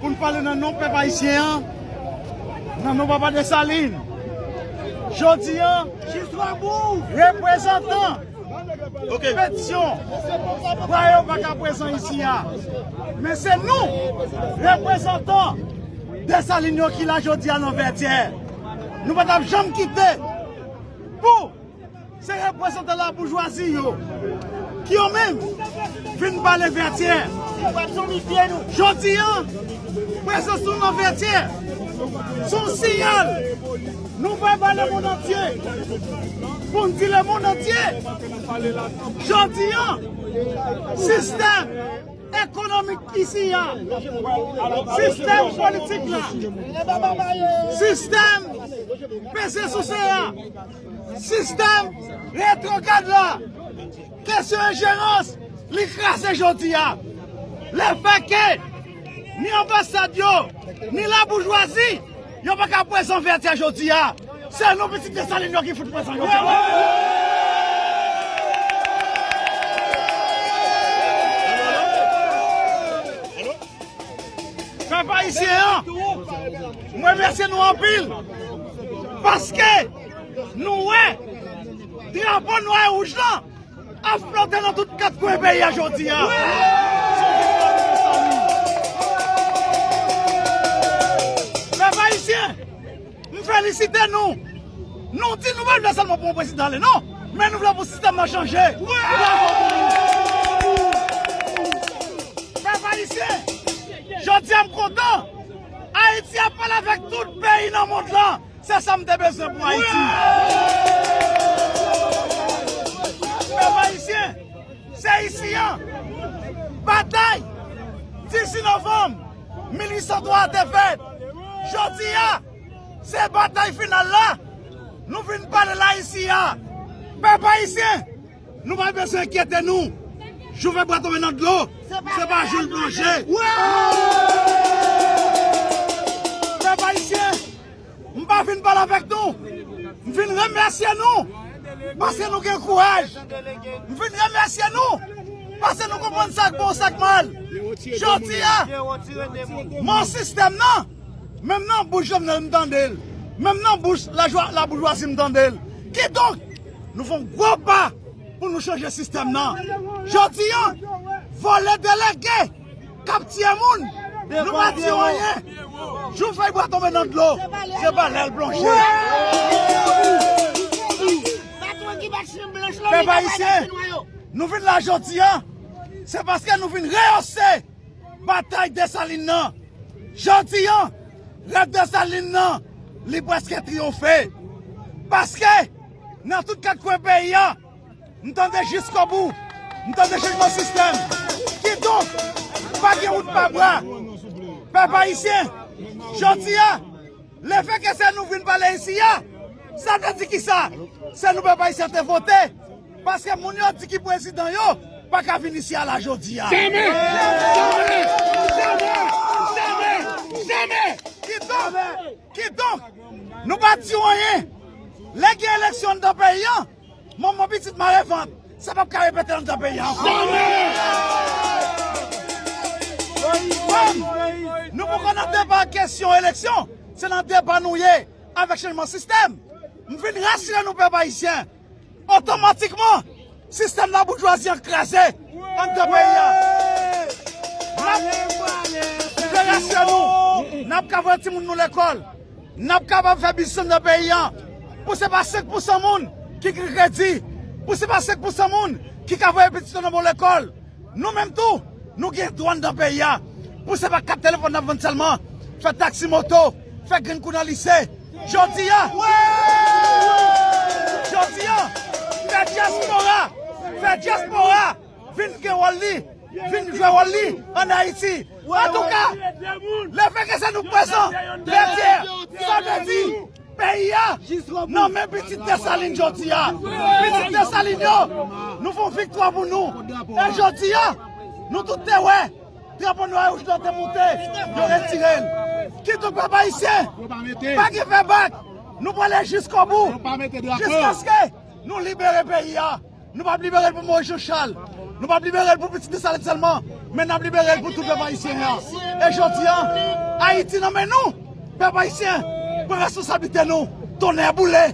Pou n pale nan non pèp ayisyen an, nan non papa Desalin, jodi a, reprezantan petisyon dwa yo pa ka prezan isi a. Men se nou, reprezantan Desalin yo ki la jodi a nan Vètyè. Nou pa t ap janm kite pou. Se reprezantan laboujwazi yo ki yo menm vin pale Vètyè. Jodi an, prezans nou nan Vètyè se yon siyal nou voye ba lemonnantye pou n di lemonnantye jodi an sistèm ekonomik isi a, sistèm politik la, sistèm peze souse a. Sistèm retwograd la, kesyon enjerans li kraze jodi a. Lefètke ni anbasad yo, ni laboujwazi yo pa ka prezan Vètyè jodi a, se nou pitit Desalin yo ki fout prezan jodi a. Pèp ayisyen an! M remèsye nou anpil paske nou wè drapo nwa e wouj lan ap flote nan tout kat kwen peyi a jodi a. S on viktwa wi mezanmi. Pèp Ayisyen, m felisite nou. Nou di nou pa vle sèlman pou yon prezidan ale non, men nou vle pou sistèm nan chanje. Bravo pou nou. Pèp Ayisyen, jodi a m kontan. Ayiti ap pale avèk tout peyi nan mond lan, se sa m te bezwen pou Ayiti. Pèp ayisyen, se isi an batay 18 novanm 1803 a te fèt. Jodi a, se batay final la, nou vin pale l Ayiti a. Pèp ayisyen, Nou pa bezwen enkyete nou. Jou fè bwa tonbe nan dlo, se pa jou l plonje. Pèp Ayisyen, m pa fin pale avèk nou. M fin remèsye nou paske nou gen kouraj. M fin remèsye nou paske nou konprann sa k bon, sa k mal. Jodi a, m an sistèm nan, menm nan bouch Jovenel m tande l, menm nan bouch laboujwazi m tande l. Kidonk! Nou fè yon gwo pa pou nou chanje sistèm nan. Jodi an, vòlè delege k ap tiye moun, nou pa di yo anyen. Jou fèy bwa tonbe nan dlo, se pa lè l plonje. Pèp Ayisyen, nou vin la jodi an, se paske nou vin reyose batay Desalin nan. Jodi an! Rèv Desalin nan, li prèske triyonfe. Paske, nan tout kat kwen peyi a, m tande jiskobou, m tande chanjman sistèm. Kidonk, pa gen wout pa bwa. Pèp Ayisyen, jodi a, lefèke se nou vin pale isi a, sa vle di kisa? Se nou pèp Ayisyen te vote. Paske moun yo di ki prezidan yo paka vin isi a la jodi a. Jamè! Jamè! Jamè! Jamè! Jamè! Kidonk, kidonk, nou pa di w anyen. Lè gen eleksyon anndan peyi an, manman pitit mare vant. Sa pap ka repete anndan peyi an ankò. Jamè! Kòm nou poko nan deba kesyon eleksyon, se nan deba nou ye avèk chanjman sistèm. M vin rasire nou pèp ayisyen. Otomatikman, sistèm laboujwazi an kraze anndan peyi a. Nap ouvè rasye nou, nap ka voye timoun nou lekòl, nap kapab fè biznis anndan peyi a, pou se pa 5 pousan moun ki gen kredi, pou se pa 5 pousan moun ki ka voye pitit yo nan bon lekòl. Nou menm tou, nou gen dwa anndan peyi a, pou se pa kat telefòn nap vann sèlman, fè taksi moto, fè grenn kou nan lise. Jodi a, jodi a, fè dyaspora, fè dyaspora vin gen wòl li, vin jwe wòl li an Ayiti. Antouka, le fè ke se nou prezan, de dye, sa vle di, peyi a nan men pitit Desalin jodi a. Pitit Desalin yo, nou fè yon viktwa pou nou. E jodi a, nou tout te wè. Drapo nwa e wouj lan te moute, yo retire l. Kidonk pèp ayisyen, pa gen fè bak, nou prale jiskobou, jiskaske nou libere peyi a. Nou pap libere l pou Moyiz Janchal, nou pap libere l pou pitit Desalin sèlman, men nap libere l pou tout pèp ayisyen an. E jodi a, Ayiti nan men nou, pèp ayisyen, pran responsablite nou, tonnè boule!